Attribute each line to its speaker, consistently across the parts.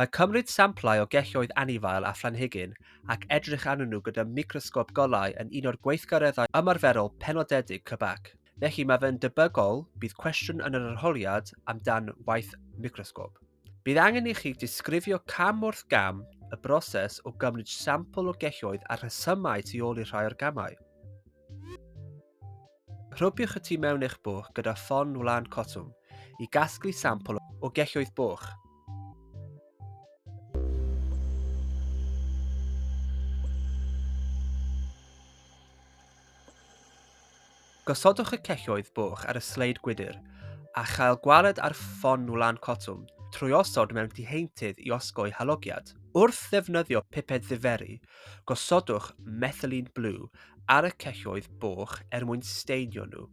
Speaker 1: Mae cymryd samplau o gelloedd anifail a phlanhigyn ac edrych arnyn nhw gyda microsgop golau yn un o'r gweithgareddau ymarferol penodedig CBAC. Felly, mae fe'n debygol bydd cwestiwn yn yr arholiad amdan waith microsgop. Bydd angen i chi disgrifio cam wrth gam y broses o gymryd sampl o gelloedd a'r rhesymau tu ôl i rhai o'r gamau. Rhobiwch y tu mewn eich bwch gyda ffon wlân cotwm i gasglu sampl o gelloedd bwch. Gosodwch y celloedd bwch ar y sleid gwydr a chael gwaled ar ffon wlan cotwm trwy osod mewn diheintydd i osgoi halogiad. Wrth ddefnyddio piped ddiferi, Gosodwch methylene blue ar y celloedd boch er mwyn steinio nhw.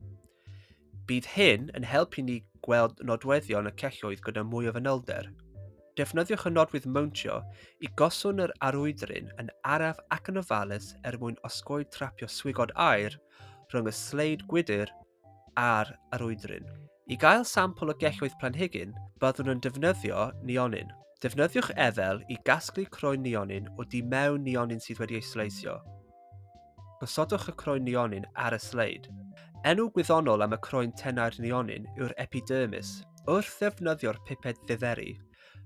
Speaker 1: Bydd hyn yn helpu ni gweld nodweddion y celloedd gyda mwy o fanylder. Defnyddiwch y nodwydd mowntio i goswn yr arwydrin yn araf ac yn ofalus er mwyn osgoi trapio swigod aer rhwng y sleid gwydr ar yr oedryn. I gael sampl o gelloedd planhigyn, byddwn yn defnyddio nionyn. Defnyddiwch efel i gasglu croen nionyn o du mewn nionyn sydd wedi ei sleisio. Gosodwch y croen nionyn ar y sleid. Enw gwyddonol am y croen tenau'r nionyn yw'r epidermis. Wrth ddefnyddio'r piped ddiferi,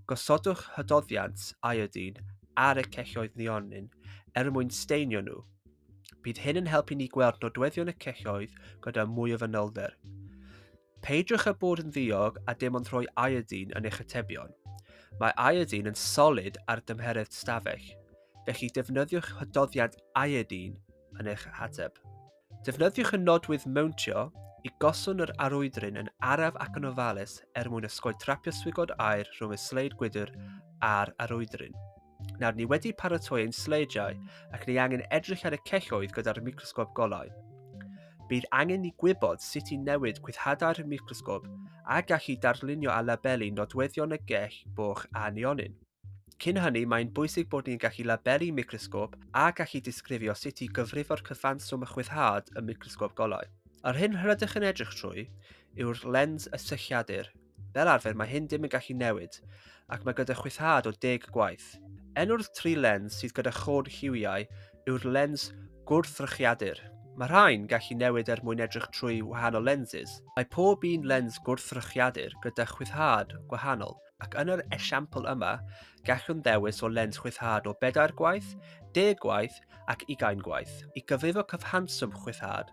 Speaker 1: gosodwch hydoddiant iodine ar y celloedd nionyn er mwyn steinio nhw. Bydd hyn yn helpu ni gweld nodweddion y celloedd gyda mwy o fanylder. Peidiwch â bod yn ddiog a dim ond rhoi iodine yn eich atebion. Mae iodine yn solid ar dymheredd stafell, felly defnyddiwch hydoddiant iodine yn eich hateb. Defnyddiwch y nodwydd mewntio i goswn yr arwydryn yn araf ac yn ofalus er mwyn ysgoi trapio swigod aer rhwng y sleid gwydr a'r arwydryn. Nawr, ni wedi paratoi ein sleidiau ac ni angen edrych ar y celloedd gyda'r microsgop golau. Bydd angen ni gwybod sut i newid gwythadau'r microsgop a gallu darlunio a labelu nodweddion y gell boch a neonyn. Cyn hynny, mae'n bwysig bod ni'n gallu labelu microsgop a gallu disgrifio sut i gyfrifo'r cyfanswm a chwythad y microsgop golau. Yr hyn rydych yn edrych trwy yw'r lens y sylliadur, Fel arfer mae hyn dim yn gallu newid, ac mae gyda chwythad o deg y gwaith. Enw'r tri lens sydd gyda chôn lliwiau yw'r lens gwrthrychiadur. Mae rhain gallu newid er mwyn edrych trwy wahanol lenses. Mae pob un lens gwrthrychiadur gyda chwythad gwahanol, ac yn yr esiampl yma, gallwn ddewis o lens chwythad o bedair gwaith, deg gwaith ac ugain gwaith. I gyfrifo cyfhanswm chwythad,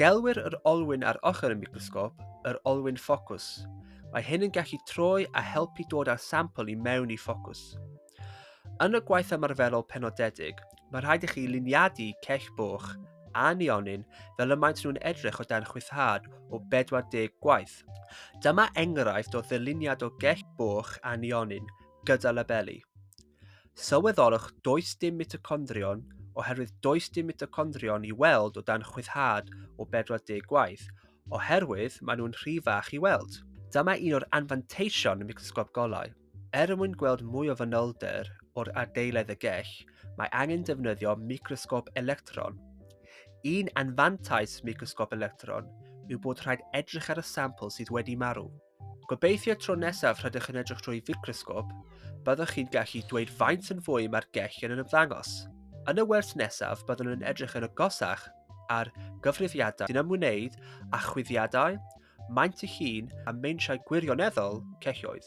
Speaker 1: Gelwir yr olwyn ar ochr y microsgop yr olwyn ffocws. Mae hyn yn gallu troi a helpu dod â'r sampl i mewn i ffocws. Yn y gwaith ymarferol penodedig, mae rhaid i chi luniadu cell boch a neonyn fel y maent nhw'n edrych o dan chwythad o 40 gwaith. Dyma enghraifft o ddyluniad o gell boch a neonyn gyda labeli. Sylweddolwch does dim mitocondrion oherwydd does dim mitocondrion i weld o dan chwyddhad o 40 gwaith, oherwydd maen nhw'n rhy fach i weld. Dyma un o'r anfanteision microsgop golau. Er mwyn gweld mwy o fanylder o'r adeiledd y gell, mae angen defnyddio microsgop electron. Un anfantais microsgop electron yw bod rhaid edrych ar y sampl sydd wedi marw. Gobeithio tro nesaf rydych yn edrych drwy ficrosgop, byddwch chi'n gallu dweud faint yn fwy mae'r gellion yn ymddangos. Yn y wers nesaf, byddwn yn edrych yn agosach ar gyfrifiadau sy'n ymwneud â chwyddiadau, maint y llun a meintiau gwirioneddol celloedd.